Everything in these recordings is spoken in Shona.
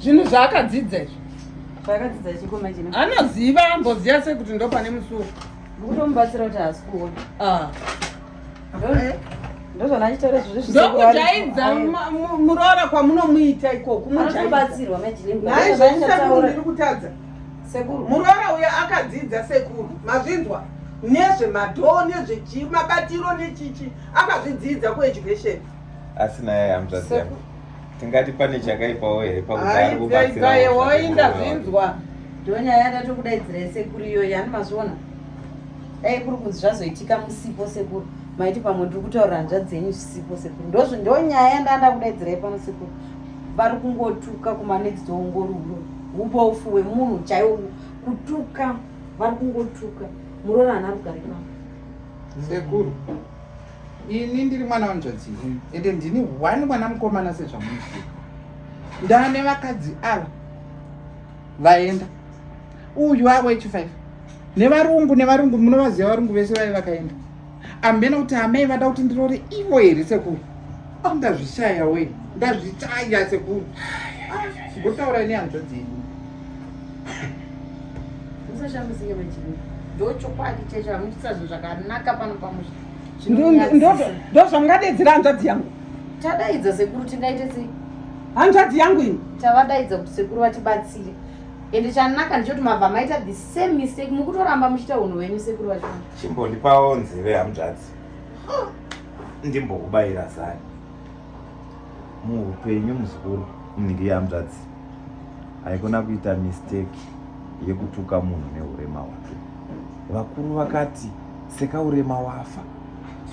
zvinhu zvaakadzidza izvi zvaakadzidza chiko manje anoziva amboziva sei kuti ndopane musuwo kutomubatsira kuti haasi kuona ah. ndokujaidza muroora kwamunomuita ikoko mubatsirwa maizvozviri kutadza sekuru muroora uyo akadzidza sekuru mazvinzwa nezvemadhoo nezvechi mabatiro nechichi akazvidzidza kueducation asi naye amzvazia tingati pane chakaipawo here pakudaoinda zvinzwa ndonyaya yada tokudaidzira sekuru iyoyi ani mazviona dai kuri kunzi zvazoitika musipo sekuru maiti pamwe ndiri kutaura hanzva dzenyu zvisipo sekuru ndozvo ndonyaya yandanda kudaidzirai pano sekuru vari kungotuka kumanext door ungori ubofu wemunhu chaiwo kutuka vari kungotuka muroora hana rugare pano sekuru ini ndiri mwana wanzvadzi yenyu ende ndini one mwana mukomana sezvamunoziva ndane vakadzi ava vaenda uyu avo echifive nevarungu nevarungu munovaziva varungu vese vave vakaenda ambena kuti amai vada kuti ndirore ivo here sekuru Ah, ndazvishaya we ndazvishaya sekuru ngotaura ah, ine hanzvadzi yedu musashambisinge vechii ndochokwadi checho hamuchisazvo zvakanaka pano pamusha ndozvamngadedzera hanzvadzi yangu tadaidza sekuru tingaite sei hanzvadzi yangu ini tavadaidza kuti sekuru vatibatsire ende chanaka ndichoti mabva maita the same mistake mukutoramba muchiita unhu wenyu sekuru vachona chimbondipawo nzeve hamzvadzi ndimbokubaira zani muupenyu muzukuru mnhingi yehanzvadzi haikona kuita mistake yekutuka munhu neurema hwake vakuru vakati seka urema wafa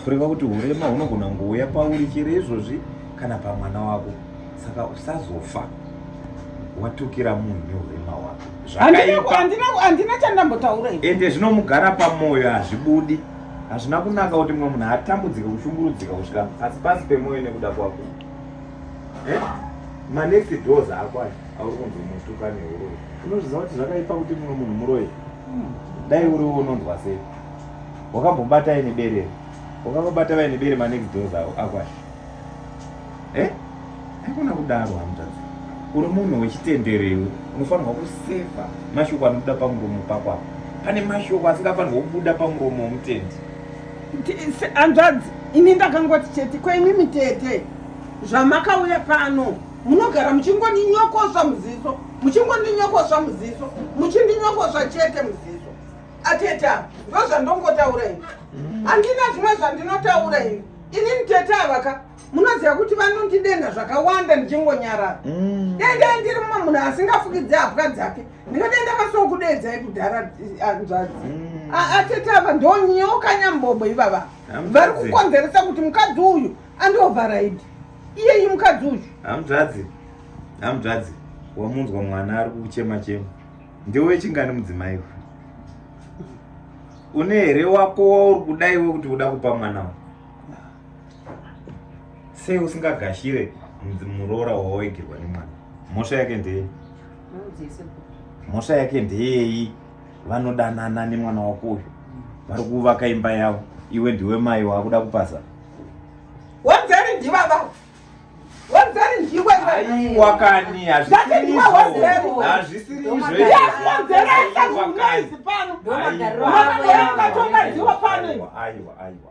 kureva kuti urema hunogona kungouya pauri chero izvozvi kana pamwana wako saka usazofa watukira munhu neurema hwako zvakaipa handina chandambotaura ende zvinomugara pamwoyo hazvibudi Hazvina kunaka kuti mumwe munhu atambudzike kushungurudzika kusvika pasi pasi pemoyo nekuda kwako. Eh? Manext doors ako aya auri kunzi mutuka nehuroyi. Unozviziva kuti zvakaipa kuti mumwe munhu muroyi. Hmm. Dai uri unonzwa sei? Wakambobata ine bere. Wakambobata vaine bere manext doors ako aya. eh haikona kudaro hamutadzi uri munhu wechitenderewe unofanirwa kuseva mashoko anobuda pamuromo pako apo pane mashoko asingafanirwa kubuda pamuromo womutendi hanzvadzi ini ndakangoti chete kwaimi mitete zvamakauya pano munogara muchingondinyokosva muziso muchingondinyokosva muziso muchindinyokosva chete muziso atete ava ndozvandongotaura ini handina zvimwe zvandinotaura ini ini mtete avaka munoziva kuti vanondidenha zvakawanda ndichingonyarara mm. dai dai ndiri mumwe munhu asingafukidze hapwa dzake ndingadai ndakasokudedzai kudhara eh, anzvadzi mm. atete ava ndonyoka nyambobo ivava vari kukonzeresa kuti mukadzi uyu andiovharaidi iyeyi mukadzi uyu hamzvadzi hamzvadzi wamunzwa mwana ari kuchema chema ndiwe chingani mudzimai uyu une here wako wauri kudaiwe kuti uda kupa mwana uyu sei usingagashire muroora wawaigirwa nemwana mhosva yake ndeyei mhosva yake ndeyei vanodanana nemwana wako uyu vari kuvaka imba yavo iwe ndiwe mai waakuda kupasa wadzari ndivava wadzari ndiwe aiwa kani hazvisirizvoaiwa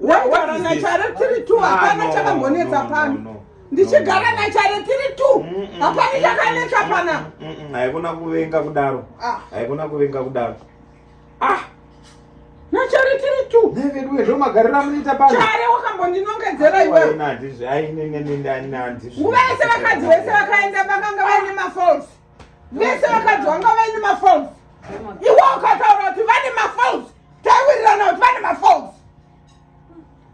waigara nachare tiri two hapana chakambonetsa pano ndichigara nachare tiri two hapana chakanetsa pana haikona kuvenga kudaro ah. haikona kuvenga kudaro ah nachare tiri two neveduwe zvomagarira munoita pano chare wakambondinongedzera iwewe nguva yese vakadzi vese vakaenda vakanga vaine mafalse mese vakadzi vanga vaine mafons iwe ukataura kuti vane mafons taiwirirana kuti vane mafons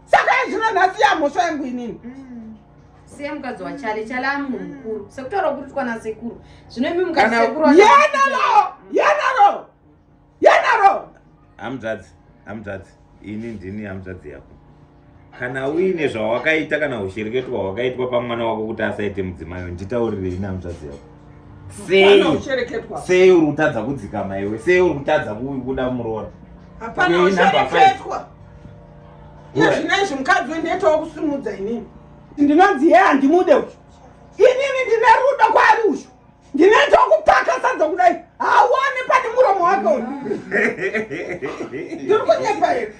saka yezvino nhasi yamhosva yangu inini mm. siya mukadzi wachale chale amu mukuru sekutaura kuri twana sekuru zvino imi mukadzi sekuru yenalo yenalo yanaro hamzadzi hamzadzi ini ndini hamzadzi yako kana uine zvawakaita kana ushereketo hwawakaitwa pamwana wako kuti asaite mudzimayo nditaurire ini hamzadzi yako sei sei uri kutadza kudzikama iwe sei uri kutadza kuda muroora hapana ushereketwa zvinezvi mukadzi wendiitawo kusimudza inini ndinonzi ye handimude uyu inini ndine rudo kwaari uyu ndinoita kupaka sadza kudai hauone pane muromo wake uyu ndiri kunyepa here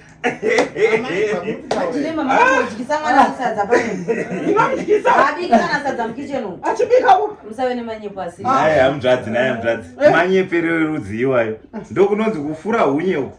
achibikaamzvadzi naye amzvadzi manyepero erudzii iwayo ndokunonzi kufura hunye uku